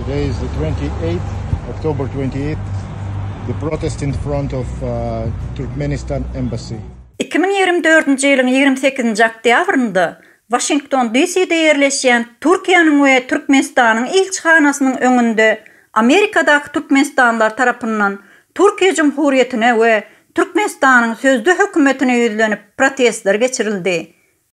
Today is the 28th, October 28th, the protest in front of uh, Turkmenistan embassy. 2024-nji ýylyň 28-nji oktýabrynda Washington DC-de ýerleşýän Türkiýäniň we Türkmenistanyň ilçihanasynyň öňünde Amerikadaky türkmenistanlylar tarapyndan Türkiýe Jumhurýetine we Türkmenistanyň sözde hökümetine ýüzlenip protestler geçirildi.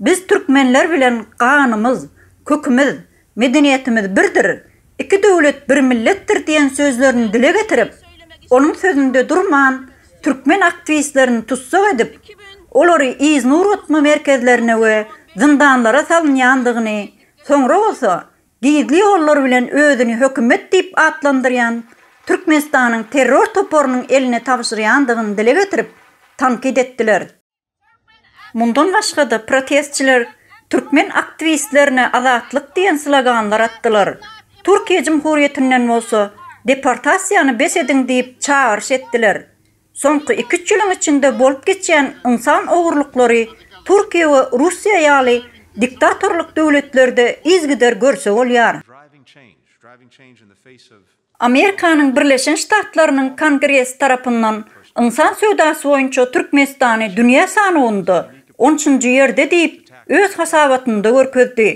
Biz türkmenler bilen ganymyz, kökümiz, medeniýetimiz birdir, iki döwlet bir milletdir diýen sözlerini dile getirip, onuň sözünde durman, türkmen aktiwistlerini tussag edip, olary yznur otma merkezlerine we zyndanlara salynýandygyny, soňra bolsa gizli ýollar bilen özüni hökümet diýip atlandyrýan Türkmenistanyň terror toparynyň eline tabşyrýandygyny dile getirip, tankyt etdiler. Mundan başga-da, protestçiler türkmen aktiwistlerine Azatlyk diýen sloganlar atdylar. Türkiýe Jumhuriýetinden bolsa deportasiýany bes ediň diýip çagyryş etdiler. Soňky iki-üç ýylyň içinde bolup geçýän ynsan ogurlyklary Türkiýe we Russiýa ýaly diktatorlyk döwletlerde yzgider görse bolýar. Amerikanyň Birleşen Ştatlarynyň Kongresi tarapyndan ynsan söwdasy boýunça Türkmenistany dünýä sanawynda on üçünji ýerde diýip, öz hasabatynda görkezdi.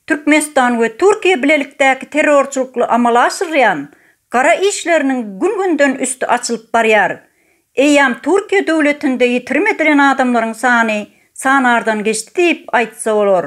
Türkmenistan we Türkiýe bilelikdäki terrorçylykly amala aşyrýan gara işleriniň gün-günden üsti açylyp barýar. Eýýäm Türkiýe döwletinde ýitirim edilen adamlaryň sany sanardan geçdi diýip aýtsa bolar.